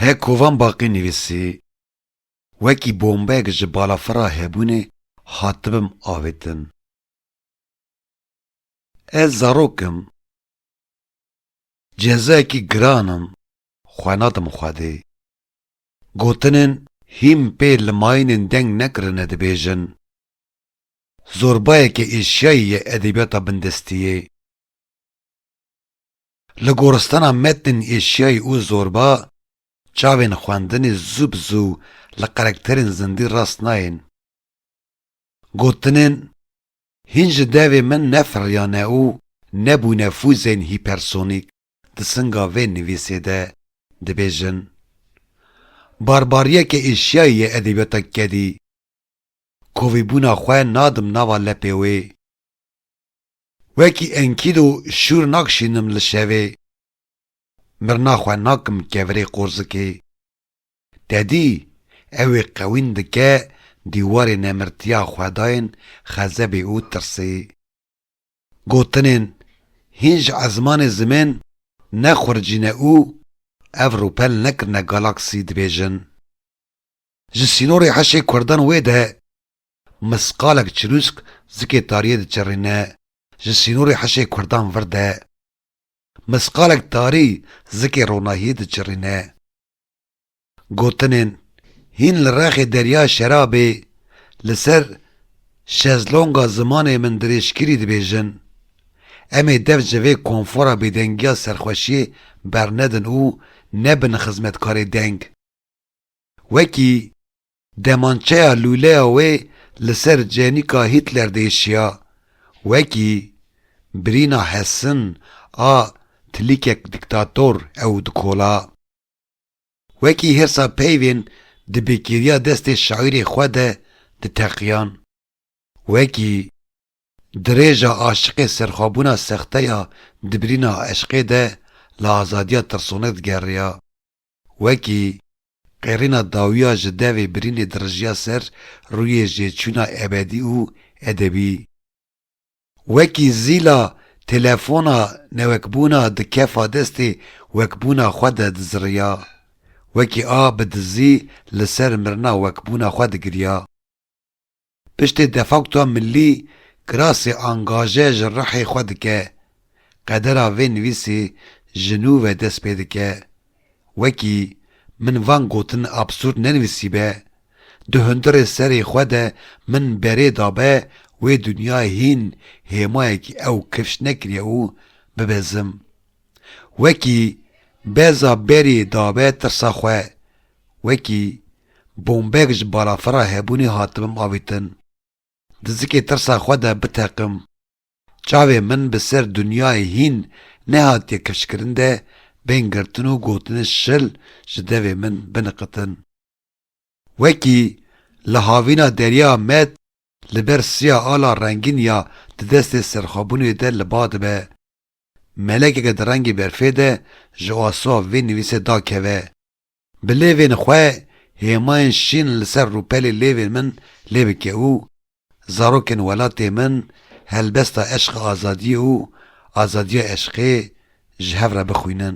Hek Kovan Baqî nivîsî, Wekî bombeyek ji balafira hebûnê hatibim avêtin. Ez zarok im. Cezayekî giran im xwe nadim Xwedê. Gotinên hîn pê li mayînên deng nekirine dibêjin. Zorbayeke eşyayî ye edebiyata bindestiyê. Li goristana metnên eşyayî û zorba, çavên xwendinê zû bi zû li qerekterên zindî rast nayên. Gotinên, hîn ji devê min nefiriyane û nebûne fûzên hîpersonîk di singa vê nivîsê de dibêjin. Barbariyeke eşyayî ye edebiyata kedî. Kovîbûna xwe nadim nava lepê wê. Wekî enkîdo şûr nakşînim li şevê. Mirna xwe nakim kevirê qorzikê. Te dî, ew ê qewîn dike dîwarê nemirtiya xwedayên xezebê û tirsê. Gotinên hîn ji ezmanê zimên ne xuricîne û ev rûpel nekirine galaksî dibêjin. Ji sînorê heşê kurdan wê de misqalek çirûsk zikê tariyê diçerîne, ji sînorê heşê kurdan vir de misqalek tarî zikê ronahiyê diçirîne. Gotinên hîn li rexê derya şerabê li ser şezlonga zimanê min dirêjkirî dibêjin. Em ê dev ji vê konfora bêdengiya serxweşiyê bernedin û nebin xizmetkarê deng. Wekî demançeya lûleya wê li ser cenîka Hitler diêşiya, wekî birîna Hessen a tilîkek dîktator ew dikola. Wekî hêrsa peyvên di bêkêriya destê şaîrê xwe de diteqiyan. Wekî dirêja aşiqê serxwebûna sexte ya di birîna eşqê de li azadiya tirsonek digeriya. Wekî qêrîna dawiya ji devê birînê dirijiya ser rûyê jêçûna ebedî û edebî. Wekî zîla telefona newekbûna di kefa destê wekbûna xwe de diziriya. Wekî a bi dizî li ser mirina wekbûna xwe digiriya. Piştî defaktoya milî kirasê angaje ji rihê xwe dike, qedera vê nivîsê ji nû ve dest pê dike. Wekî min van gotin absûrd nenivîsîbe, di hundirê serê xwe de min berê dabe wê dinyayê hîn hêmayekî ew kifş nekiriye û bibezim. Wekî beza berî dabe tirsa xwe, Wekî bombeyek ji balafira hebûnê hatibim avîtin, di zikê tirsa xwe de biteqim. Çavê min bi ser dinyayê hîn nehatiye kifşkirin de bên girtin û gotinên şil ji devê min biniqitin. Wekî li havîna derya met li ber siya ala rengîn ya di destê serxwebûnê de li ba dibe, melekeke di rengê berfê de ji asoa vê nivîsê dakeve, Bi lêvên xwe hêmayên şîn li ser rûpelê lêvên min lê bike û zarokên welatê min helbesta eşqa azadiyê û azadiya eşqê ji hev re bixwînin.